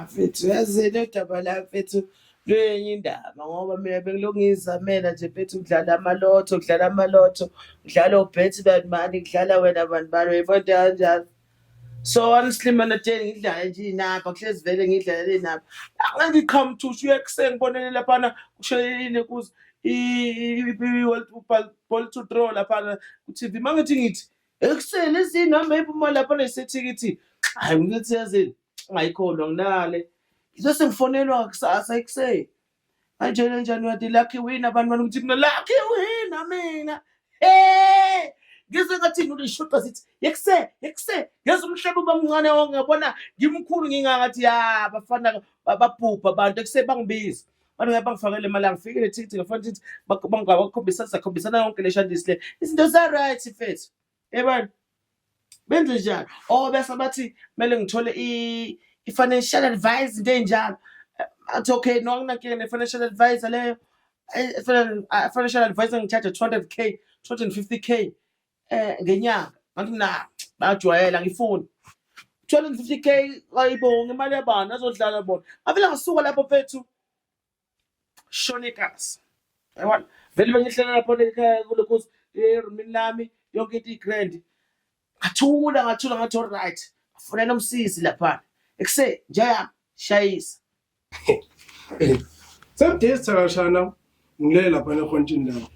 mfethu yazini udaba la mfethu luyenye indaba ngoba mina bengilokhu ngiyizamela nje mfethu kudlala amalotho kudlala amalotho kudlala obhethi bantu mani kudlala wena bantu bani uyibona into kanjalo So honestly mina Jane ngidlala nje inapha kuhlezi vele ngidlalela inapha. Angithi qhamuthusha uyekuseni bonele laphana kushelelile kuze i-world ball to draw laphana ku-tv uma ngithi ngithi ekuseni ezinihamba iphuma laphana isethikithi hayi ngithi yazini ungayikholwa nginale ngizose ngifonelwa kusasa ekuseni Angela njani uyati lucky win abantu bani ukuthi mina lucky win mina hey ngizwe ngathi ngilishuqa sithi yekuse yekuse ngeza umhlaba uba mncane wonke ngabona ngimkhulu ngingangathi ya bafana ba- babhubha abantu ekuse bangibiza abantu ngabe bangifakele imali angifikile thithi ngafana thithi bangakhombisa sakhombisana yonke le shandisi le izinto za-right fethu yebani benze njalo or bese bathi kumele ngithole i-financial advice into ey'njalo athi okay no anginankinga ne-financial advisor leyo financial advisor ngithathe 200 k 250 k um ngenyanga ngathi mna bayajwayela angifuni 250 k ayibonge imali yabani azodlala bona avele ngasuka lapho fethu shonekazi yabona vele bengihlala lapho ekhaya kule kuthi erumini lami yonke into igrand ngathula ngathula ngathi all right afunela umsizi lapha ekuse njaya shayisa Some days thakashana ngilele lapha nekhonjini lapho.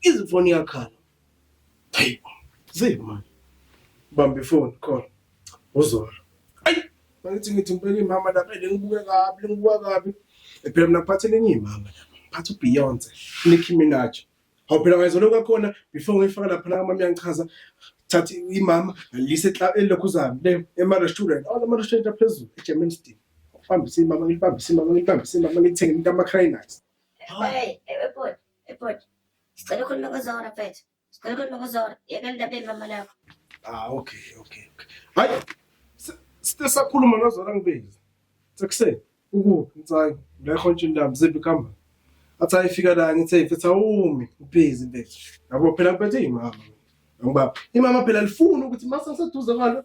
Izifoni yakhala. Hey, zip man. Bamba ifoni khona. Uzolo. Ay, mangithi ngithi impela imama lapha lengibuke kabi, lengibuka kabi. Phela mina ngiphathe lenye imama lapha. Ngiphathe uBeyonce, Nicki Minaj. Hawu phela ngayizolo kwakhona before ngifaka lapha la mama yangichaza thatha imama ngalise elokhu zami le ema-restaurant all ama-restaurant aphezulu egermanston ngibambise imama ngilibambise imama ngilibambise imama ngithenge into ama-crynuts Hey, hey, hey, boy. Hey bhuti, sicela ukhulume kuzora mfethu. Sicela ukhulume kuzora. Yekela indaba yemama lakho. Ah, okay, okay, okay. Hayi, sithe sakhuluma nozora ngibezi. Sekuseni, ukuphi mtsayi? Ngekho nje indaba ziphi kamba. Athi ayifika la ngithe mfethu awumi, ubhizi mfethu. Yabo phela mpethe imama. Ngoba imama phela lifuna ukuthi mase ngiseduze kwalo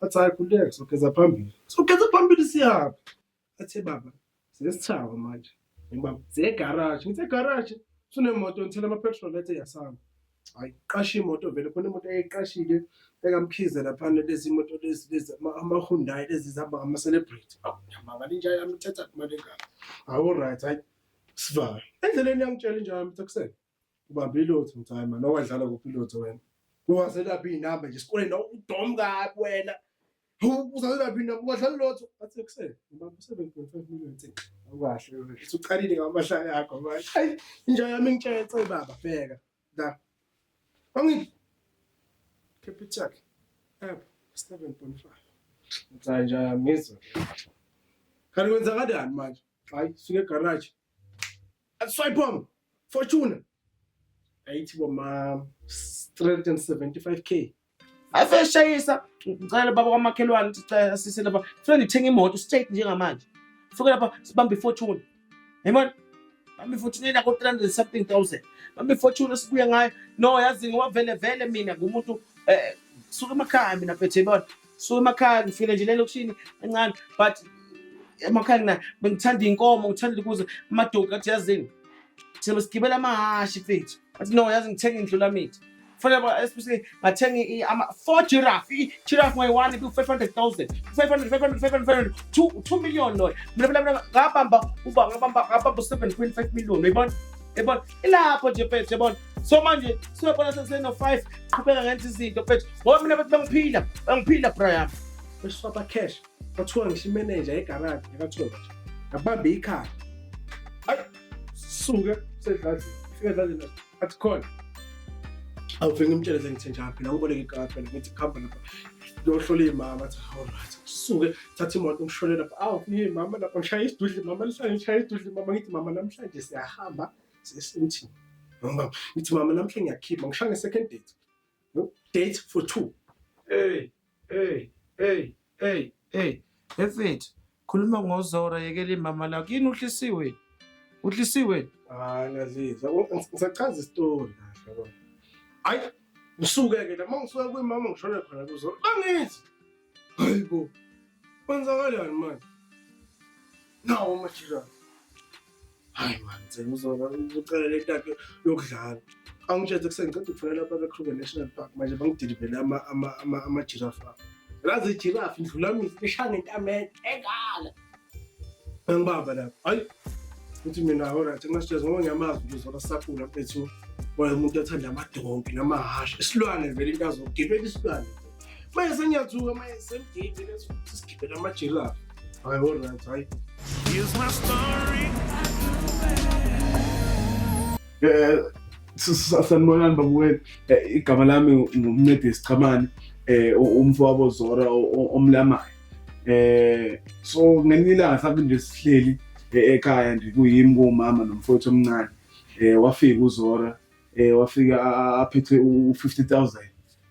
athi hayi khululeka sogeza phambili sogeza phambili siyaphi athe baba sesithaba manje ngibaba segaraji ngithe garaji sunemoto ngithela ama-petrol ethe yasama hayi qasha imoto vele khona imoto eyiqashile ekamkhize laphana lezi moto lezi lezi amahundayi lezi zihamba ngama-celebrity yamangala inja yami ithetha imali engaka awu right hayi sivale endleleni yangitshela inja yami ukuthi akusele ubambe ilotho ngithi hayi mani owadlala kuphi ilotho wena uwazelaphi iy'namba nje esikoleni nawe udom kabi wena uzazelaphi iy'namba uwadlala ilotho athi ekuseni ubambe u-seven point five million thix awukahle wena uthi uqalile ngamahlaya akho manje ayi inja yami ngitshetse baba bheka la angi capital yakhe app seven point five ngithi hayi inja yami ngizwe kanti kwenzakalani manje hayi suke egaraji Swipe Fortuna. Ayithi bo ma 375k. Ave shayisa ngicela baba kwamakhelwane ukuthi cela sise lapha. Funa ngithenga imoto straight njengamanje. Fika lapha sibambe Fortuna. Yabona? Bambe Fortuna ina ko 300 something thousand. Bambe Fortuna sibuye ngayo. No yazi ngiwavele vele mina ngumuntu eh suka emakhaya mina phethe yabona. so emakhaya ngifile nje lelokishini encane but emakhaya ngina bengithanda iy'nkomo ngithanda ukuze amadoki athi yazini thina besigibela amahhashi fethu athi no yazi ngithenga indlu lamithi fanele ba especially ngathenga i- ama four giraffe i- giraffe ngayi-one ku-five hundred thousand five hundred five hundred five hundred five hundred two two million loyo mina phela mina ngabamba uba ngabamba ngabamba u-seven point five million uyibona yebona ilapho nje mfethu yebona so manje siyabona seseno-five qhubeka ngenza izinto mfethu ngoba mina bethi bangiphila bangiphila bra yami besifaba cash kwathiwa ngisho imeneja egaraji yakathole ngabambe ikhaya ayi suke sedladlini fika edladlini athi khona awuve ngimtshele sengithe njalo phela ngiboleke ikhaya phela ngithi kuhamba lapha ngiyohlola iy'mama athi allright suke thatha imoto ngishone lapha awu imama lapha ngishaya isidudli mama lihlale ngishaya isidudli mama ngithi mama namhlanje siyahamba Sesithini? Mama, ngithi mama namhle ngiyakhipha ngisha nge second date. No date for two. Hey, hey, hey, hey, hey. Efit, khuluma ngozora yekela imama lakho. Yini uhlisiwe? Uhlisiwe? Ah, naziza. Ngisachaza istory kahle yabo. Hayi, usuke ke la mangisuka kwimama ngishone khona kuzo. Bangithi Hayi bo. Kwenzakalani manje? Nawo umakhelwane. Hayi man, ngicela uzoba ucela le ntathu yokudlala. Angitshetse kuseni ngicela ukufonela lapha kweKruger National Park manje bangidilivele ama ama ama ama giraffe. Lazi giraffe ndlula mina lishaya ngentameni engala. Bengibamba lapho. Hayi. Uthi mina alright ngasijeza ngoba ngiyamazi ukuthi uzona sakula mfethu. Wena umuntu othanda amadonki namahhashi. Isilwane vele into azogibela isilwane. Manje sengiyathuka manje semgidi leso sigibela amajirafu. Hayi alright hayi. Here's my story. Eh sanibonani babuwena eh, igama lami ngumncedisi Chamani eh umfowabo Zora omlamayo eh so ngelinye ilanga sabe nje sihleli e-, ekhaya nje kuyimi kumama nomfowethu omncane eh wafika uzora eh wafika aphethe u50000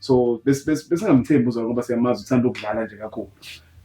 so besingamthembi uzora ngoba siyamazi uthanda ukudlala nje kakhulu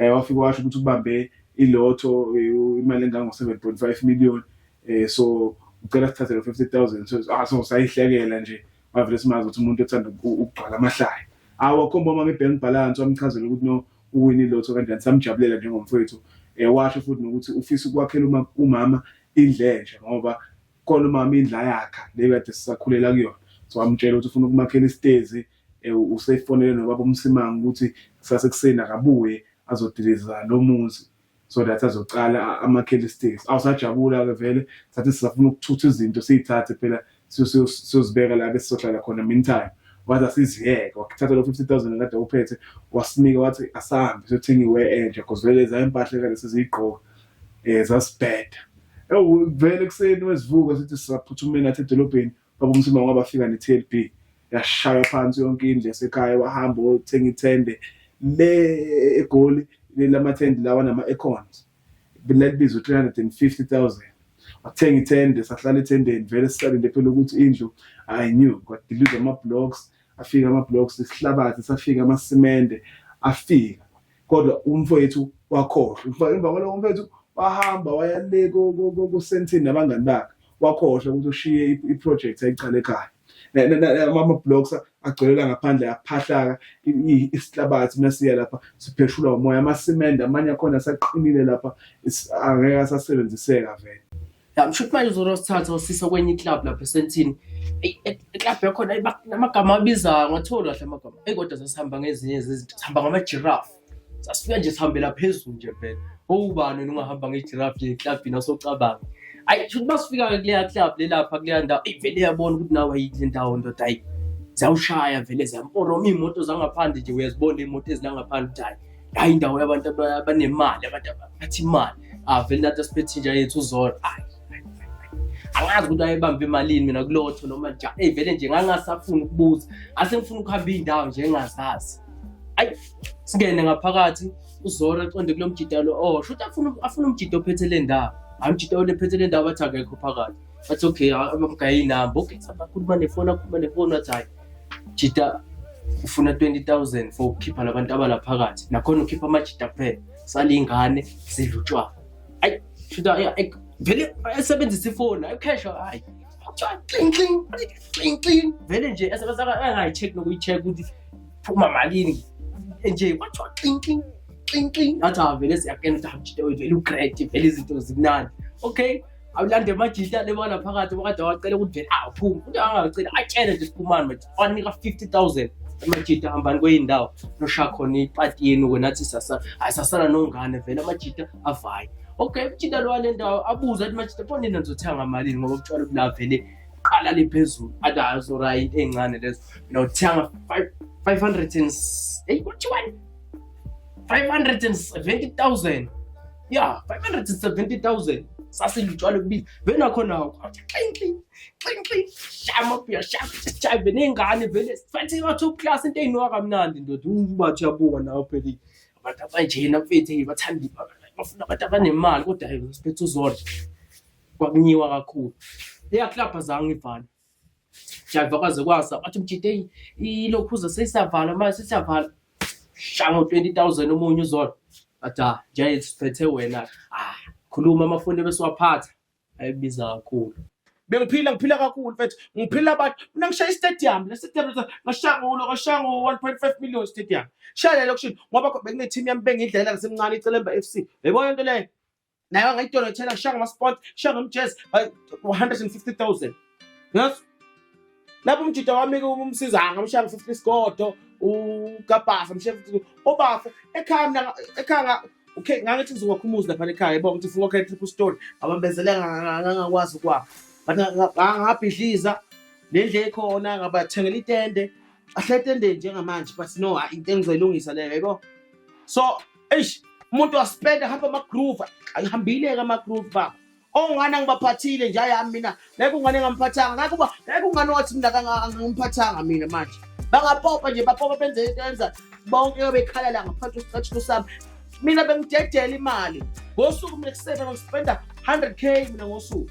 eh wafika washo ukuthi ubambe ilotho eh, imali engango 7.5 million eh so ucela sithathe lo 50000 so ah so sayihlekela nje wavele simazi ukuthi umuntu othanda ukugcwala amahlaya awakhomba uma nge-bank balance wamchazela ukuthi no uwini lotho kanjani samjabulela njengomfowethu um washo futhi nokuthi ufisa ukwakhela umama indlensha ngoba khona umama indla yakha le kade sisakhulela kuyona so wamtshela ukuthi ufuna ukumakhela isitezi eh, usefonele nobaba umsimanga ukuthi kusase kuseni akabuye azodiliza lo muzi so that azoqala amakhele isiteksi awusajabula-ke vele sathi sisafuna ukuthutha izinto siyithathe phela siyozibeka la besizohlala khona meantime wathi asiziyeke wakuthatha lo 50000 kade uphethe wasinika wathi asahambe siyothenga iwe entsha because vele za impahla kade siziyigqoka um eh, zasibheda ewu vele ekuseni wesivuka sithi sisaphuthumeni athi edolobheni baba umsima ngoba bafika ne-tlb yashaya phansi yonke indlu yasekhaya wahamba wothenga ithende le egoli lamathende lawa nama-econs lalibiza u-three hundred and fifty thousand wathenga ithende sahlala ethendeni vele sisalinde phela ukuthi indlu i new kwadilizwa ama-blocks afika ama-blocks isihlabathi safika amasimende afika kodwa umfowethu wakhohlwa emva kwaloko umfowethu wahamba waya le kusentini nabangani bakhe wakhohlwa ukuthi ushiye iproject ayiqale ekhaya ama-blocks agcwelela ngaphandle aphahlaka isihlabathi masiya lapha sipheshulwa umoya amasimende amanye akhona asaqinile lapha angeke asasebenziseka vele Ya msho ukuthi manje uzora sithatha usisa kwenye iclub lapha esentini. Ey iclub yakhona ayi, ba- namagama abizayo ngathola kahle amagama. Ey kodwa sasihamba ngezinye zezinto. Sihamba ngama giraffe. Sasifika nje sihambela phezulu nje vele. Owubani ungahamba nge giraffe nje eclubini asocabanga. Ayi shuthi masifika kuleya club lelapha kuleya ndawo. Ey vele yabona ukuthi nawe ayikho indawo ndoda ayi. Zawushaya vele zamporoma imoto zangaphandle nje uyazibona imoto ezilangaphandle ukuthi hayi hayi indawo yabantu abanemali abantu abathi imali avele nathi asiphethe inja yethu uzolo hayi angazi ukuthi ayebambe emalini mina kulotho noma njani eyi vele nje ngangasafuni ukubuza ase ngifuna ukuhamba iy'ndawo nje engazazi ayi singene ngaphakathi uzoro aqonde kulo mjida lo o oh, shuthi afuna umjida ophethe le ndawo hayi umjida olephethe le ndawo bathi akekho phakathi bathi okay amagayinamba okay sabakhuluma nefoni akhuluma nefoni wathi hhayi jita ufuna 20000 for ukukhipha labantu abalaphakathi nakhona ukhipha amajita phela salingane sidla utshwala ayi shita vele esebenzisa ifoni ayi cash hayi cling cling cling cling vele nje esebenza angayi check nokuyi check ukuthi phuma malini nje kwathiwa cling cling cling cling ngathi avele siyakena ukuthi hamjita wethu vele ugrade vele izinto zimnandi okay awulande amajita lebona phakathi wakade wacela ukuthi vele awuphumi uthi angacela atshele nje siphumani manje wanika 50000 amajita hambani kweyindawo nosha khona ipati yenu wena athi sasa hayi sasala nongane vele amajita avaye okay umjita lo wale ndawo abuza athi majita bona nina nizothenga malini ngoba kutshwala kula vele qala le phezulu athi hayi uzora into encane lezo mina uthenga 500 and eyi kuthiwani 570000 ya 570000 sasilutshwala kubiza vena khona xinxi xinxi shama buya shama jive nengane vele fanti wa top class into eyinwa kamnandi ndoda ubathi uyabuka nawe pheli abantu abanjena mfethu bathanda ibhaka bafuna abantu abanemali kodwa hey siphethe uzodla kwakunyiwa kakhulu eyaklabha zange ibhana Jayiva kwaze kwasa wathi mjiteyi ilokhuza seyisavala manje sesavala shango 20000 omunye uzona athi ah jayiva siphethe wena ah khuluma amafoni ebesiwaphatha ayibiza kakhulu bengiphila ngiphila kakhulu mfethu ngiphila abantu mina ngishaya istadium le stadium ngashaya ngulo ngashaya ngo 1.5 million stadium shaya le lokushini ngoba bekunethimu yami bengidlalela ngisemncane icelemba FC yebo into leyo naye wangayitolo ethela kushiya ngamasport kushiya ngomjazz 150000 yes lapho umjita wami umsiza angamshiya ngo-50 isigodo ugabhasa mshiya obafo ekhaya mina ekhaya okay ngangithi ngizokwa umuzi lapha ekhaya yebo ngithi ufuna ukhaya triple story abambezele ngangakwazi ukwakho but ngabhidliza nendle ekhona ngabathengela itende ahle etendeni njengamanje but no into engizoyilungisa leyo yebo so eish umuntu waspenda hamba amagroove ayihambile ke amagroove baba ongane angibaphathile nje ayami mina ngeke ungane engamphathanga ngeke uba ngeke ungane wathi mina kangimphathanga mina manje bangapopa nje bapopa benze into yenza bonke bekhala la ngaphansi kwesicathulo sami mina bengidedela imali ngosuku mina kusebe ngispenda 100 k mina ngosuku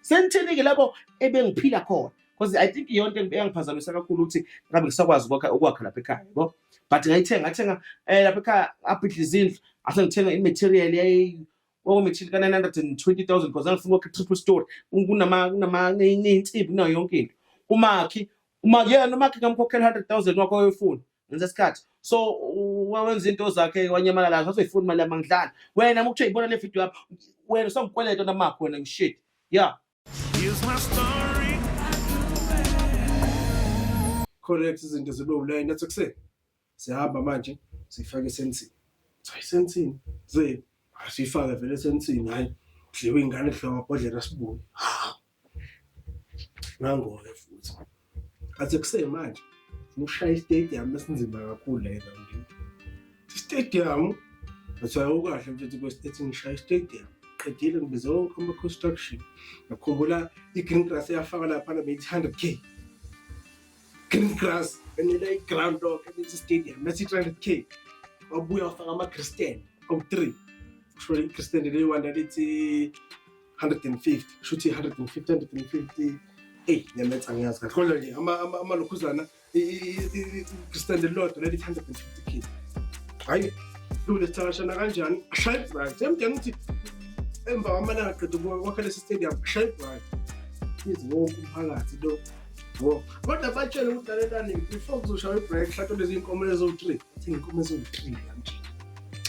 sengithini-ke lapho ebengiphila khona because i think iyonto eyangiphazamisa kakhulu ukuthi ngabe ngisakwazi ukwakha ukwakha lapha ekhaya yabo but ngayithenga ngathenga um lapha ekhaya abhidla izindlu ase ngithenga i-material kwakumetshili ka-nine hundred and twenty thousand because angifuna ukwakha i-triple story kuneyinsimbi kunayo yonke into umakhi umakhi yena umakhi ngamkhokhela i-hundred thousand wakho oyofuna ngenza isikhathi so wenza into zakhe wanyamala lazo azoyifuna imali yamangidlana wena uma kuthiwa ibona le video yami wena usangikweleta namakho wena ngishit ya correct izinto zibe ulayini nathi kuseni siyahamba manje siyifake esensini hayi sensini ze asiyifake vele esensini hayi kudliwe ingane kudliwa amabhodlela sibuye ngangoke futhi athe kusemanje ushaya istadium esinzima kakhulu la ezambini istadium ngathiwa ukahle mfethu kwesitethi ngishaya istadium qedile ngibize wonke ama-construction ngakhumbula i-green grass eyafaka laphana beyithi hundred k green grass benela i-ground lok ebethi stadium bethi three hundred k wabuya wafaka ama-christian awu-three kusho i-christian leyi wanda lithi 150 kusho ukuthi 150 150 eyi nyametha ngiyazi kahle kodwa nje amalokhuzana istand elilodwa leli 150 k hhayi kulesithakashana kanjani ashaye ibhrayi semdinga ukuthi emva kwamalanga qeda kwakha lesi stadium ashaye ibhrayi izi wonke umphakathi lo kodwa batshele ukuthi lalelani before kuzoshaya ibhrayi kuhlatshwa lezi nkomo lezo-three Thina inkomo eziwu-three kamjini.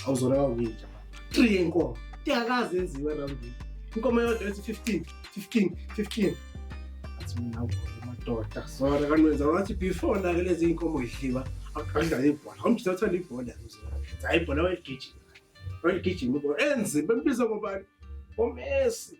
Awuzona kawini nje. Three yenkomo. Iyakazi yenziwa roundini. Inkomo yodwa ethi 15, 15, 15. Athi mina madoda. Sona kanwenza wathi before nake lezi iy'nkomo yidliwa akudlala ibhola. Umjita uthanda ibhola mzona. Hayi ibhola wayigijima. Wayigijima ibhola. Enzi bembiza ngobani? Omesi.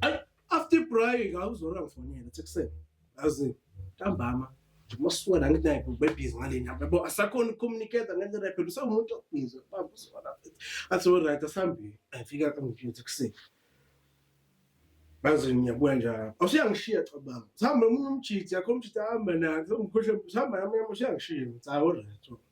Ay after break awuzora ngifonela ethi kuseni. Azi ntambama masuka la ngithi naye bebhizi ngaleni yabo asakhona ukucommunicate ngendlela yaphela usawumuntu obhizi baba usona athi alright asihambile afika angiphethe kuseni bazi ngiyabuya njalo awusuyangishiya cabanga sihamba omunye umjiti yakho umjiti ahamba naye ngikhohle sihamba nami usuyangishiya ngithi alright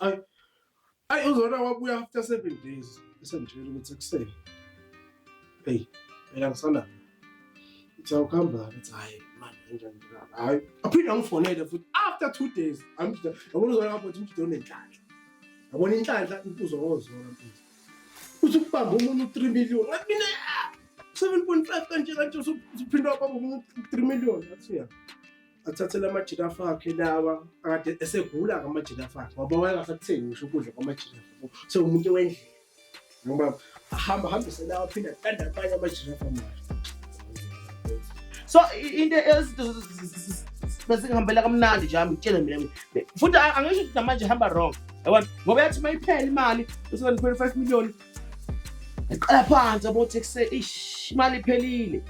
Ay. Ay uzona wabuya after 7 days. Esengitshela ukuthi ekuseni. Hey, phela ngisana. Ithi awukhamba ngathi hayi manje kanjani njalo. Hayi, aphinde angifonele futhi after 2 days. Angijida. Yabona uzona lapho ukuthi umjida unenhlanhla. Yabona inhlanhla impuzo ngozona mfethu. Uthi ukubamba umuntu 3 million. Ngathi mina 7.5 kanje kanje usuphinda kwaba umuntu 3 million. Ngathi ya. athathele amajirafu akhe lawa akade esegula-ke amajirafu akhe ngoba wayengasakuthengi ngisho ukudla kwamajirafu so umuntu wendlela ngoba ahamba hambise lawa aphinde atanda abanye amajirafu amahle so into ezinto besingihambela kamnandi nje ngitshele mina futhi angisho ukuthi namanje hamba wrong yabona ngoba yathi uma iphela imali usebenza 25 million Ngiqala phansi yabo ukuthi kuse ish imali iphelile.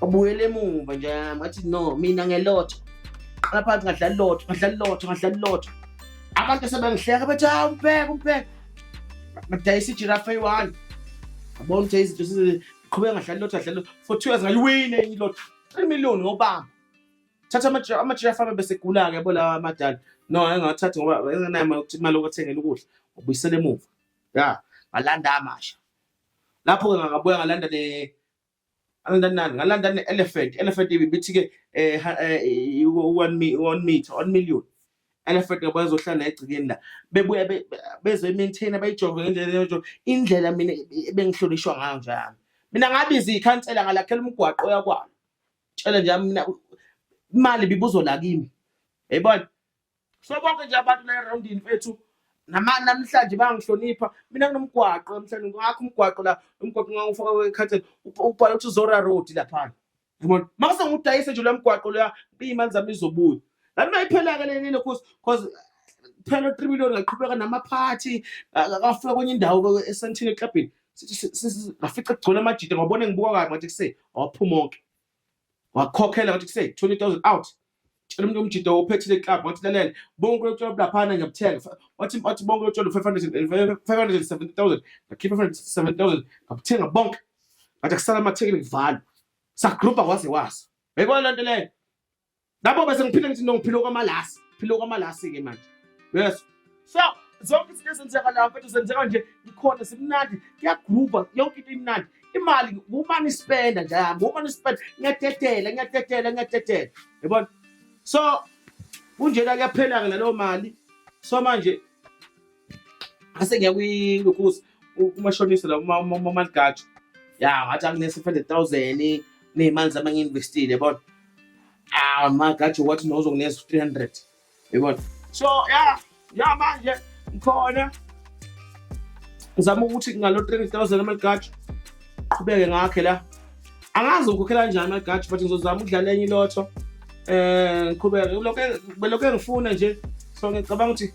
Ubuyele emuva nje ngathi no mina ngelotho. Qala phansi ngadlala lotho, ngadlala lotho, ngadlala lotho. Abantu sebengihleka bethi hawu ah, umbheka umbheka. Badayisa ijirafa eyi-one. Yabona ukuthi izinto siziqhubeka ngadlala lotho, ngadlala lotho. For two years ngayiwina enye ilotho. 3 million ngobamba. thatha ama-giraffe ama-giraffe abe bese egula-ke yabo lawa amadala no engawathathi ngoba engenayo imali yokuthi imali yokuthengela ukudla ubuyisela emuva ya ngalanda amasha lapho-ke ngakabuya ngalanda ne ngalanda nani ngalanda ne-elephant elephant ibithi-ke um one mi- one meter one million elephant yabo yazohlala egcikeni la bebuya be- be- bezoyi-maintaina bayijove ngendlela eyojo indlela mina ebengihlonishwa ngayo njalo mina ngabiza ikhansela ngalakhela umgwaqo oyakwalo tshele nje mina imali bibuzo la kimi yayibona so bonke nje abantu la erondini fethu namhlanje bangihlonipha mina kunomgwaqo namhlanje ngakho umgwaqo la umgwaqo ngangifaka kwekhatheni ubhala ukuthi zora road laphana yabona maka sengudayise nje lo mgwaqo loya iyimali zami izobuya lami mayiphela-ke lenile cause cause phela u-three million ngaqhubeka namaphathi akafika kwenye indawo esentini eklabhini ngafica kugcona amajita ngabona ngibuka kabi ngathi kuse waphuma onke wakhokhela ngathi kuse 20000 out tshela umuntu omjita ophethile club ngathi lalela bonke lotsholo bulaphana ngiyabuthenga wathi wathi bonke lotsholo 500 570000 ngakhipha 570000 ngabuthenga bonke ngathi kusala amathekile ngivala sagroupa waze wasa yayikona lento leyo Lapho bese ngiphile ngithi ngiphilo kwamalasi, philo kwamalasi ke manje. Yes. So zonke izinto ezenzeka la mfethu zenzeka nje ikhona simnandi kuyagroova yonke into imnandi imali kumane ispenda nje yami kumane ispenda ngiyadedela ngiyadedela ngiyadedela yabona so kunjena kuyaphela-ke naleyo mali so manje ase ngiya kwilukhuza kumashonisa la umaligajo ya ngathi anginesi-five hundred thousand ney'mali zami angi-investile yabona ah magajo wathi nozonginesa u-three hundred yabona so ya ya manje ngikhona ngizama ukuthi ngalo three hundred thousand amaligajo qhubeke ngakhe la angazi ngikhokhela kanjani amaligajo but ngizozama ukudlala enye ilotho um eh, ngiqhubeke belokhu engifuna nje so ngicabanga ukuthi